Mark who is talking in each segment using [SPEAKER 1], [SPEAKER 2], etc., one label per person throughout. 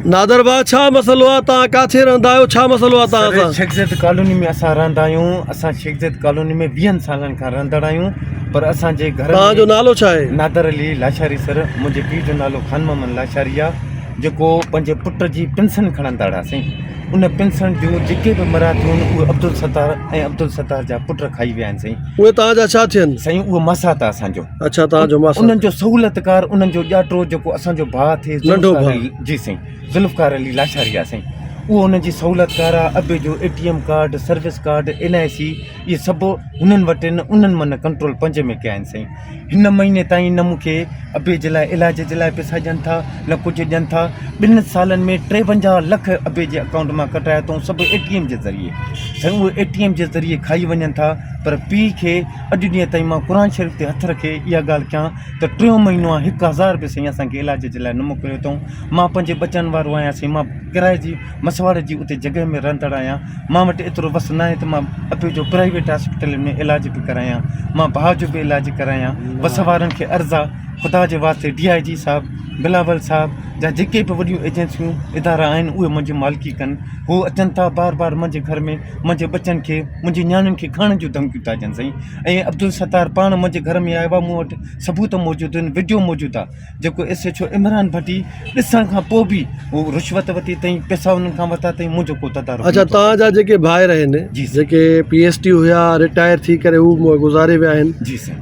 [SPEAKER 1] نادر ڀاء ڇا مسئلو آ توهان ڪاٿي رهندا آهيو ڇا مسئلو آ توهان سان. شيخ زيد ڪالوني ۾ اسان
[SPEAKER 2] رهندا آهيون اسان شيخ زيد ڪالوني ۾ ويهن سالن کان رهندڙ آهيون پر اسان جي گهر توهان جو نالو ڇا آهي.
[SPEAKER 1] نادر علي لاشاري
[SPEAKER 2] سر منهنجي پيء جو نالو خان محمد لاشاري آ جيڪو پنهنجي پٽ جي پنسن کڻندڙ آ سائين ان پنسن جون جيڪي به مراديون آهن اهي عبدالستار ۽ عبدالستار جا پٽ کائي ويا آهن سائين اهي توهان جا ڇا ٿين.
[SPEAKER 1] سائين اهو ماسات آ
[SPEAKER 2] اسان جو. اڇا توهان جو ماسڙ انهن
[SPEAKER 1] جو سهولتڪار
[SPEAKER 2] انهن جو ڄاٽو جيڪو اسان جو ڀاء ٿئي ننڍو ڀاء جي
[SPEAKER 1] سائين
[SPEAKER 2] ذوالفقار علي لاشاري آ سائين اهو انهن جي سهولتڪار آ ابي جو A T M card service card N I C اهي سڀ هنن وٽ ان انهن من ڪنٽرول پنهنجي ۾ ڪيا آهن سائين هن مهيني تائين نه مونکي ابي جي لاء علاج جي لاء پيسا ڏين ٿا نه ڪجهه ڏين ٿا ٻن سالن ۾ ٽيونجاهه لک ابي جي اڪائونٽ مان ڪٽايا اٿئون سڀ اي ٽي ايم جي ذريعي سائين اهي اي ٽي ايم جي ذريعي کائي وڃن ٿا پر پيء کي اڄ ڏينهن تائين مان قرآن شريف تي هٿ رکي اها ڳالهه ڪيان ته ٽيون مهينو آهي هڪ هزار به سائين اسان کي علاج جي لاء نه موڪليو اٿئون مان پنهنجي ٻچن وارو آهيان سائين مان ڪرايي جي مسواڙ جي اتي جڳهه ۾ رهندڙ آهيان مان وٽ ايترو وس نه آهي ته مان اپي جو پرائيويٽ هاسپيٽلن ۾ علاج به ڪرايان مان ڀاء جو به علاج ڪرايان وس وارن کي عرض آ خدا جي واسطي ڊي آئي جي صاحب بلاول صاحب جا جيڪي به وڏيون ايجنسيون ادارا آهن اهي منهنجي مالڪي ڪن هو اچن ٿا بار بار منهنجي گهر ۾ منهنجي ٻچن کي منهنجي نياڻين کي کڻڻ جون ڌمڪيون ٿا ڏين سائين ۽ عبدالستار پاڻ منهنجي گهر ۾ آيو آ مون وٽ ثبوت موجود آهن وڊيو موجود آ جيڪو S H O Imran Bhatti ڏسڻ کان پوء به هو رشوت ورتي تائين پيسا انهن کان ورتا تائين منهنجو ڪو تدارڪ اچا نٿو تان جا جيڪي
[SPEAKER 1] ڀائر آهن جي سر جيڪي پي
[SPEAKER 2] ايس ٽي
[SPEAKER 1] هيا رٽائر ٿي ڪري هو جي سر گذاري ويا آهن جي سر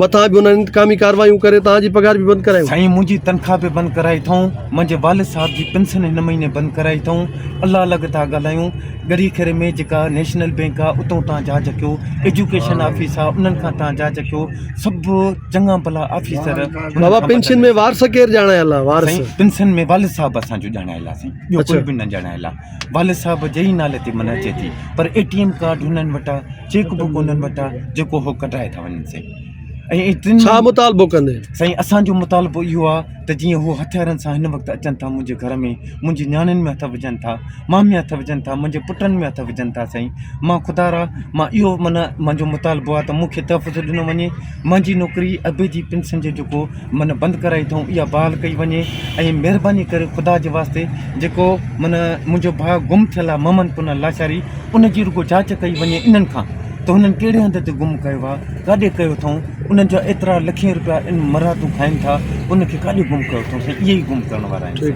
[SPEAKER 1] مٿان به انهن انتقامي ڪارروايون ڪري توهان جي پگهار به بند ڪرايون. سائين منهنجي تنخواه به
[SPEAKER 2] بند ڪرائي اٿئون منهنجي والد صاحب جي پنسن هن مهيني بند ڪرائي اٿئون الله لڳ ٿا ڳالهايون ڳڙهي کيري ۾ جيڪا نيشنل بينڪ آ اتئون تان جهاز ڪيو ايجوڪيشن آفيس آ انهن کان تان جهاز ڪيو سڀ چڱا ڀلا آفيسر بابا پنسن
[SPEAKER 1] ۾ وارث ڪير ڄاڻايل آ وارث سائين پنسن ۾ والد
[SPEAKER 2] صاحب اسان جو ڄاڻايل آ سائين ٻيو ڪوئي به نه ڄاڻايل آ. والد صاحب جي ئي نالي تي منهن اچي ٿي پر اي ٽي ايم ڪارڊ هنن وٽ آ چيڪ بڪ هنن وٽ آ جيڪو هو ڪڍرائي ٿا وڃن سائين ڇا مطالبو
[SPEAKER 1] ڪندين سائين اسان جو
[SPEAKER 2] مطالبو اهو آ ته جيئن هو هٿيارن سان هن وقت اچن ٿا منهنجي گهر ۾ منهنجي نياڻين ۾ هٿ وجهن ٿا مان ۾ هٿ وجهن ٿا منهنجي پٽن ۾ هٿ وجهن ٿا سائين مان خدا را مان اهو معنيٰ منهنجو مطالبو آ ته مونکي تحفظ ڏنو وڃي منهنجي نوڪري ابي جي پنسن جو جيڪو من بند ڪرائي اٿئون اها بحال ڪئي وڃي ۽ مهرباني ڪري خدا جي واسطي جيڪو من منهنجو ڀاء گم ٿيل آهي ممن پنهل لاشاري ان جي رڳو جاچ ڪئي وڃي انهن کان ته هنن ڪهڙي هنڌ تي گم ڪيو آهي ڪاڏي ڪيو اٿئون انهن جا ايترا لکين روپيا ان مرهاتون کائن ٿا ان کي ڪاڏي گم ڪيو اٿئون سائين اهي ئي گم ڪرڻ وارا آهن